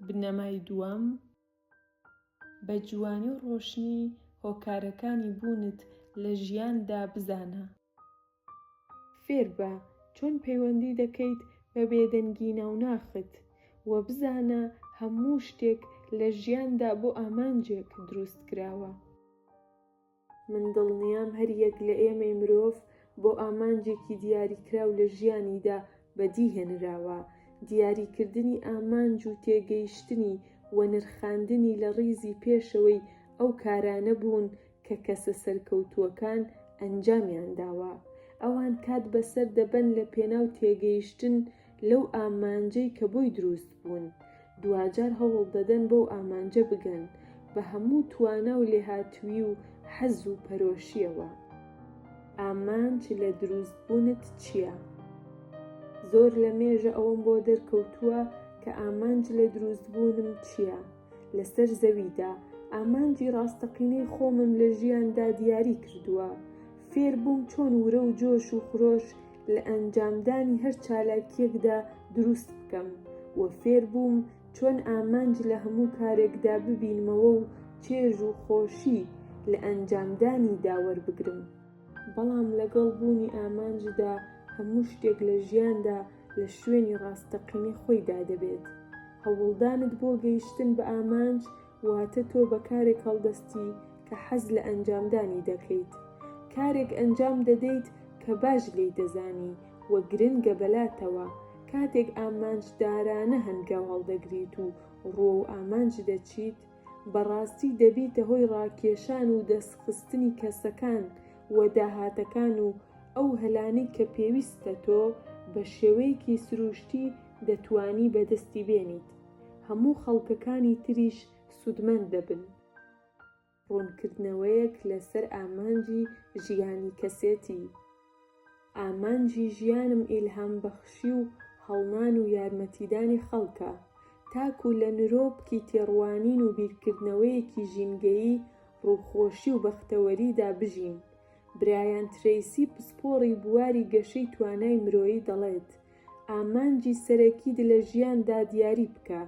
بنەمای دووەم، بە جوانی و ڕۆشنی هۆکارەکانی بوونت لە ژیاندا بزانە. فێربە چۆن پەیوەندی دەکەیت بە بێدەنگی ناوناخت، وە بزانە هەموو شتێک لە ژیاندا بۆ ئامانجێک درووستکراوە. من دڵنیام هەر یەک لە ئێمەی مرۆڤ بۆ ئامانجێکی دیاریکراو لە ژیانیدا بەدی هێنراوە، دیاریکردنی ئامانج و تێگەیشتنی و نرخاندنی لە ڕیزی پێشەوەی ئەو کارانە بوون کە کەسە سەرکەوتووەکان ئەنجامیان داوە. ئەوان کات بەسەر دەبەن لە پێناو تێگەیشتن لەو ئامانجەی کە بۆی دروست بوون، دواجار هەوڵ دەدەن بەو ئامانجە بگەن بە هەموو توانا و لێهاتوویی و حەز و پەرۆشییەوە. ئامانج لە دروست بوونت چییە؟ زۆر لە مێژە ئەوەم بۆ دەرکەوتووە کە ئامانج لە دروست بوونم چییە؟ لەسەر زەویدا ئامانجی ڕاستەقینەی خۆمم لە ژیاندا دیاری کردووە فێر بووم چۆن ورە و جۆش و خرۆش لە ئەنجامدانی هەر چالاکیەکدا دروست بکەم و فێر بووم چۆن ئامانج لە هەموو کارێکدا ببینمەوە و چێژ و خۆشی لە ئەنجامدانی داوەربگرم بەڵام لەگەڵ بوونی ئامانجدا هەموو شتێک لە ژیاندا لە شوێنی ڕاستەقینەی خۆیدا دەبێت. هەوڵدانت بۆ گەیشتن بە ئامانج واتە تۆ بە کارێک هەڵدەستی کە حەز لە ئەنجامدانی دەکەیت. کارێک ئەنجام دەدەیت کە باش لێی دەزانی و گرنگە بەلاتەوە. کاتێک ئامانجدارانە هەنگاو هەڵدەگریت و ڕووەو ئامانج دەچیت، بەڕاستی دەبیتە هۆی ڕاکێشان و دەست خستنی کەسەکان و داهاتەکان و ئەو هەلانەی کە پێویستە تۆ بە شێوەیەکی سروشتی دەتوانی بەدەستی بێنیت هەموو خەڵکەکانی تریش سودمەند دەبن. ڕوونکردنەوەیەک لەسەر ئامانجی ژیانی کەسێتی. ئامانجی ژیانم ئیلهام بەخشی و هەڵنان و یارمەتیدانی خەڵکە، تاکو لە نرۆپکی تێڕوانین و بیرکردنەوەیەکی ژینگەیی، ڕووخۆشی و بەختەوەریدا بژین. برایان ترەیسی پسپۆڕی بواری گەشەی توانای مرۆیی دەڵێت، ئامانجی سەرەکیت لە ژیاندا دیاری بکە،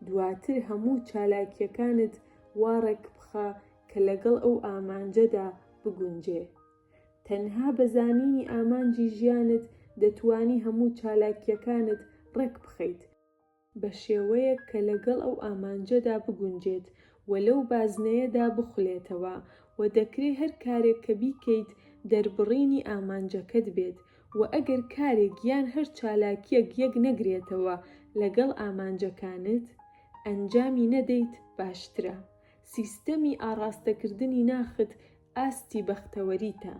دواتر هەموو چالاکییەکانت وا ڕێکبخە کە لەگەڵ ئەو ئامانجەدا بگونجێ. تەنها بە زانینی ئامانجی ژیانت دەتوانی هەموو چالاکییەکانت ڕێکبخەیت، بە شێوەیەک کە لەگەڵ ئەو ئامانجەدا بگونجێت و لەو بازنەیەدا بخولێتەوە و دەکرێت هەر کارێک کە بیکەیت دەربڕینی ئامانجەکەت بێت و ئەگەر کارێک یان هەر چالاکییەک یەکنەگرێتەوە لەگەڵ ئامانجەکانت ئەنجامی نەدەیت باشترە سیستەمی ئاڕاستەکردنی ناخت ئاستی بەختەوەریتە.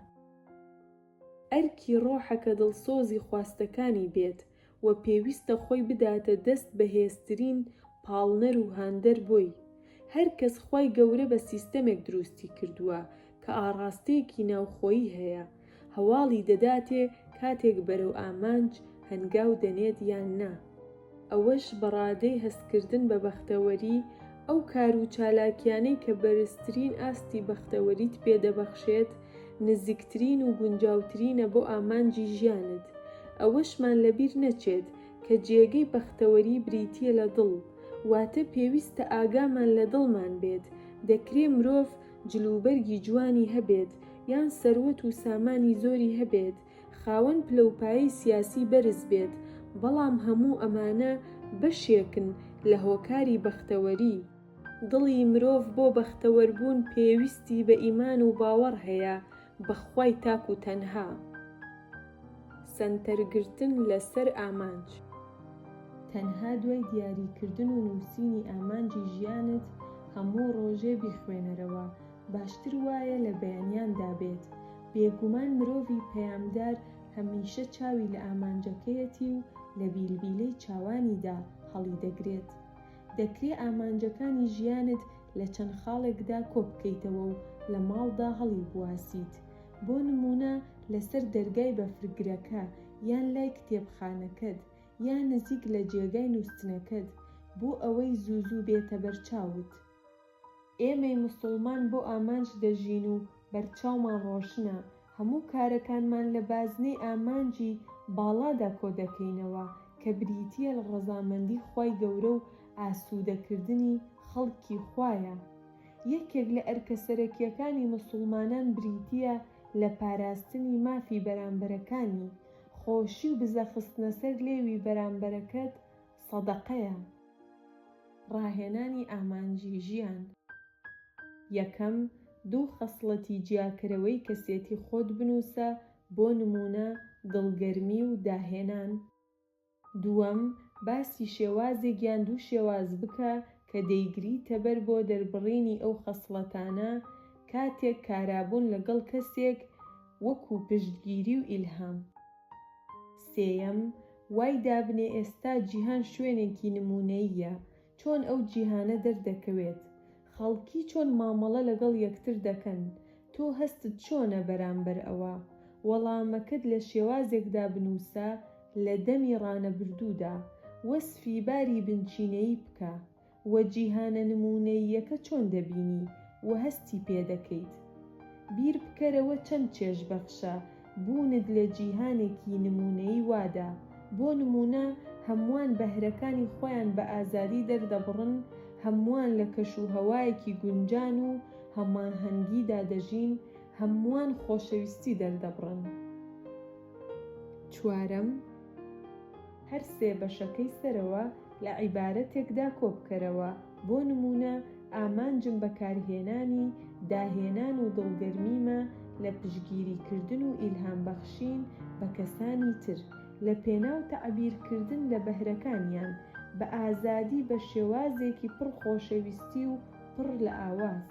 ئەرکی ڕۆحە کە دڵسۆزی خواستەکانی بێت و پێویستە خۆی بداتە دەست بەهێزترین پاڵنەر و هاندەر بۆی. هەر کەس خوای گەورە بە سیستەمێک دروستی کردووە کە ئاڕاستەیەکی ناوخۆیی هەیە، هەواڵی دەداتێ کاتێک بەرەو ئامانج هەنگاو دەنێت یان نا، ئەوەش بە ڕادەی هەستکردن بە بەختەوەری، ئەو کار و چالاکیانەی کە بەرزترین ئاستی بەختەوەریت پێ دەبەخشێت، نزیکترین و گونجاوترینە بۆ ئامانجی ژیانت، ئەوەشمان لەبیر نەچێت کە جێگەی بەختەوەری بریتییە لە دڵ، واتە پێویستە ئاگامان لە دڵمان بێت، دەکرێ مرۆڤ. جلوبەرگی جوانی هەبێت یان سەروەت و سامانی زۆری هەبێت، خاوەن پلەوپایەی سیاسی بەرز بێت، بەڵام هەموو ئەمانە بەشێکن لە هۆکاری بەختەوەری. دڵی مرۆڤ بۆ بەختەوەربوون پێویستی بە ئیمان و باوەڕ هەیە، بەخوای تاک و تەنها سەنتەر گرتن لەسەر ئامانج. تەنها دوای دیاری کردن و نووسینی ئامانجی ژیانت هەموو ڕۆژێ بیخوێنەرەوە باشتر وایە لە بەیانیان دابێت، بێگومان مرۆڤی پەیامدار هەمیشە چاوی لە ئامانجەکەیەتی و لە بیلبیلەی چاوانیدا هەڵیدەگرێت، دەکرێ ئامانجەکانی ژیانت لە چەند خاڵێکدا کۆ بکەیتەوە و لە ماڵدا هەڵیبواسیت. بۆ نموونە لەسەر دەرگای بەفرگرەکە، یان لای کتێبخانەکەت، یا نزیک لە جێگای نووستنەکەت، بۆ ئەوەی زوو زوو بێتە بەرچاوت. ئێمەی مسوڵمان بۆ ئامانج دەژین و بەرچاومان ڕۆشنە، هەموو کارەکانمان لە بازنەی ئامانجی باڵادا کۆدەکەینەوە کە بریتییە لە ڕەزامەندی خوای گەورە و ئاسوودەکردنی خەڵکی خوایە. یەکێک لە ئەرکە سەرەکییەکانی مسوڵمانان بریتییە لە پاراستنی مافی بەرامبەرەکانی، خۆشی و بزەخستنەسەر لێوی بەرامبەرەکەت، سەدەقەیە، ڕاهێنانی ئامانجی ژیان، یەکەم دوو خەسڵەتی جیاکەرەوەی کەسێتی خۆت بنووسە بۆ نموونە دڵگەرمی و داهێنان. دووەم باسی شێوازێک یان دوو شێواز بکە کە دەیگریتەبەر بۆ دەربڕینی ئەو خەسڵەتانە کاتێک کارابوون لەگەڵ کەسێک وەکوو پشتگیری و ئیلهام. سێیەم، وای دابنێ ئێستا جیهان شوێنێکی نموونەییە، چۆن ئەو جیهانە دەردەکەوێت؟ خەڵکی چۆن مامەڵە لەگەڵ یەکتر دەکەن؟ تۆ هەستت چۆنە بەرامبەر ئەوە؟ وەڵامەکەت لە شێوازێکدا بنووسە لە دەمی ڕانەبردوودا، وەسفی باری بنچینەیی بکە. و جیهانە نموونەییەکە چۆن دەبینی و هەستی پێ دەکەیت؟ بیر بکەرەوە چەند چێژبەخشە بوونت لە جیهانێکی نموونەیی وادا، بۆ نموونە هەمووان بەهرەکانی خۆیان بە ئازادی دەردەبڕن، هەمووان لە کەشوهەوایەکی گونجان و هەماهەنگیدا دەژین، هەمووان خۆشەویستی دەردەبڕن. چوارەم. هەر سێ بەشەکەی سەرەوە لە عیبارەتێکدا کۆبکەرەوە، بۆ نموونە، ئامانجم بەکارهێنانی، داهێنان و دڵگەرمیمە لە پشتگیریکردن و ئیلهامبەخشین بە کەسانی تر، لەپێناو تەعبیرکردن لە بەهرەکانیان بە ئازادی بە شێوازێکی پڕ خۆشەویستی و پڕ لە ئاواز.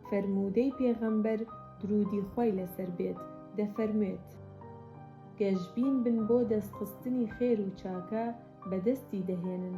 فەرموودەی پێغەمبەر دروودی خوای لەسەر بێت دەفەرموێت، گەشبین بن بۆ دەستخستنی خێر و چاکە بەدەستی دەهێنن.